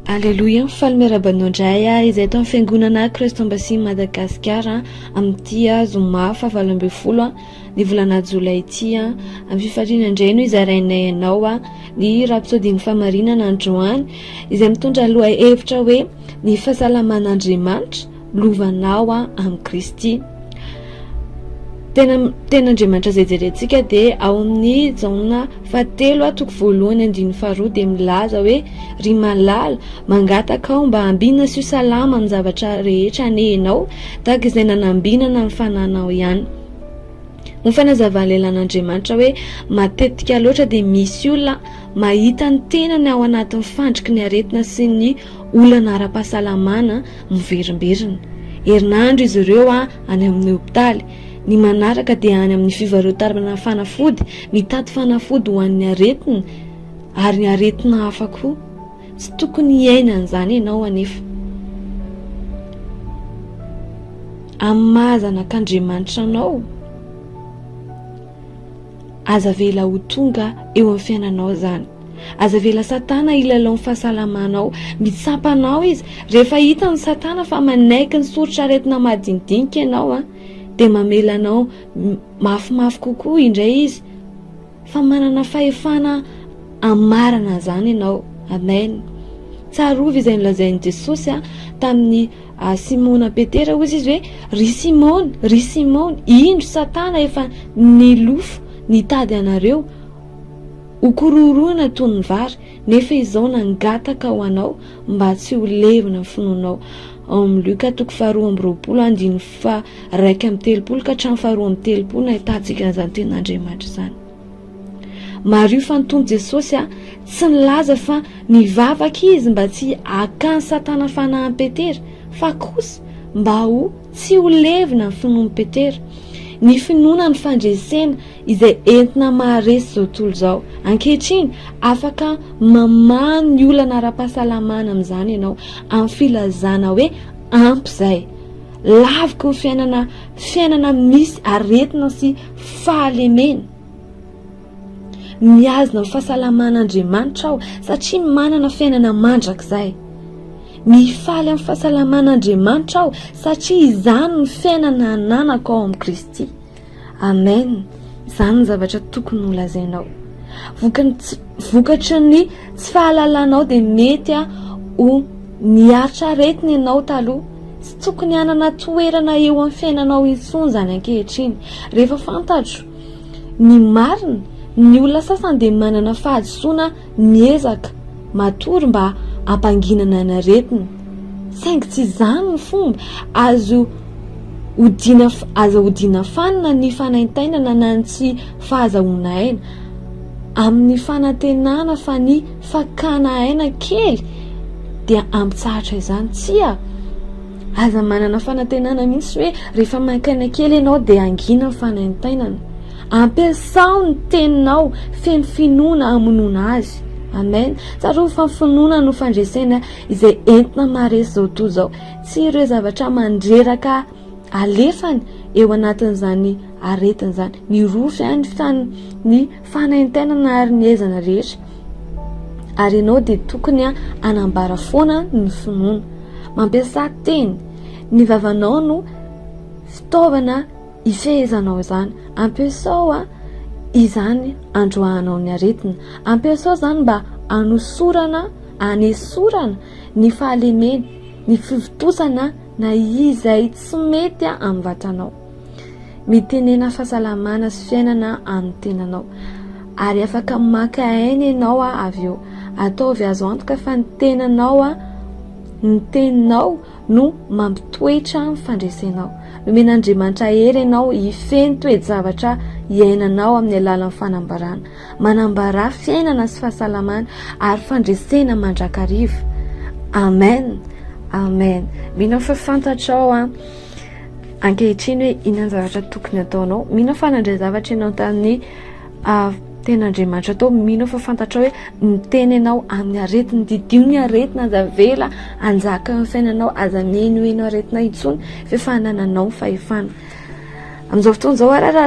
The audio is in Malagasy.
Aleloia, mifaly miaraba anao indray aho izay eto amin'ny fiangonana Christ Embassy Madagascar amin'ity zoma fahavalo ambin'ny folo ny volana jolay ity. Amin'ny fifaliana indray no izarainay anao ny rapsodin'ny famarinana androany izay mitondra lohahevitra hoe ny fahasalaman'Andriamanitra. lovanao amin'i Kristy. Tena tena Andriamanitra izay jerentsika dia ao amin'ny Jaona fahatelo toko voalohany andininy faharoa dia milaza hoe ry malala mangataka aho mba ambina sy ho salama amin'ny zavatra rehetra anie ianao tahaka izay nanambinana ny fananao ihany. Ho fanazavan'ny lehilan'Andriamanitra hoe matetika loatra dia misy olona mahita ny tenany ao anatin'ny fandriky ny aretina sy ny olana ara-pahasalamana miverimberina. Herinandro izy ireo any amin'ny hopitaly. Ny manaraka dia any amin'ny fivarotana fanafody, mitady fanafody ho an'ny aretina ary ny aretina hafa koa. Tsy tokony hiaina an'izany ianao anefa. Amin'ny maha zanak'Andriamanitra anao, Aza avela ho tonga eo amin'ny fiainanao izany. Aza avela Satana hilalao ny fahasalamanao. Mitsapa anao izy. Rehefa hitan'i Satana fa manaiky ny soritr'aretina madinidinika ianao, dia mamela anao mafimafy kokoa indray izy fa manana fahefana hamarana an'izany ianao. Amen. Tsarovy izay nolazain'i Jesosy tamin'ny. A Simona Petera hozy izy hoe, Ry Simona, ry Simona, indro Satana efa nilofo nitady anareo ho korohoroina toy ny vary, nefa izao nangataka ho anao mba tsy ho levona ny finoanao. Ao amin'ny Luka toko faharoa amby roapolo andininy faharaika amby telopolo ka hatramin'ny faharoa amby telopolo no ahitantsika an'izany tenin'Andriamanitra izany. Mariho fa ny Tompo Jesosy tsy nilaza fa nivavaka Izy mba tsy hakan'i Satana fanahin'i Petera, fa kosa mba ho tsy ho levona ny finoan'i Petera. Ny finoana no fandresena izay entina maharesy izao tontolo izao. Ankehitriny, afaka mamaha ny olana ara-pahasalamana amin'izany ianao, amin'ny filazana hoe ampy izay. Laviko ny fiainana fiainana misy aretina sy fahalemena. Mihazona ny fahasalaman'Andriamanitra aho satria manana fiainana mandrakizay. Mifaly amin'ny fahasalaman'Andriamanitra aho satria izany ny fiainana ananako ao amin'i Kristy. Amen. Izany ny zavatra tokony ho lazainao. Vokany vokatry ny tsy fahalalanao dia mety ho niaritra aretina ianao taloha. tokony hanana toerana eo amin'ny fiainanao intsony izany ankehitriny, rehefa fantatro ny marina, ny olona sasany dia manana fahadisoana miezaka matory mba hampanginana ny aretiny, saingy tsy izany ny fomba, azo odiana aza hodiana fanina ny fanaintainana na ny tsy fahazahoana aina, amin'ny fanantenana fa ny Fakana aina kely dia ampitsahatra izany. Tsia, aza manana fanantenana mihitsy hoe rehefa mainka aina kely ianao dia hangina ny fanaintainana. Ampiasao ny teninao feno finoana hamonoana azy. Amen. Tsarovy fa ny finoana no fandresena izay entina maharesy izao tontolo izao. Tsy ireo zavatra mandreraka alefany eo anatin'izany aretina izany. Mirofy ihany ny fanaintainana ary ny aizana rehetra ary ianao dia tokony a anambara foana ny finoana mampiasa teny ny vavanao no fitaovana ifehezanao izany ampiasao a izany androahanao ny aretina ampiasao izany mba anosorana anesorana ny fahalemena ny fivitosana na izay tsy mety a amin'ny vatanao Mitenena fahasalamana sy fiainana amin'ny tenanao. Ary afaka maka aina ianao avy eo. Ataovy azo antoka fa ny tenanao, ny teninao no mampitoetra ny fandresenao. Nomen'Andriamanitra hery ianao hifehy ny toe-javatra iainanao amin'ny alalan'ny fanambarana. Manambara fiainana sy fahasalamana ary fandresena mandrakariva. Amen. Amen. Mino aho fa fantatrao. ankehitriny hoe inona ny zavatra tokony ataonao mino aho fa nandray zavatra ianao tamin'ny ah, ten'andriamanitra atao mino fa fantatrao hoe miteny ianao amin'ny aretina didio ny aretina aza vela anjaka ny fiainanao aza mihenoheno aretina intsony f'efa anananao ny fahefana amin'izao fotoana izao arara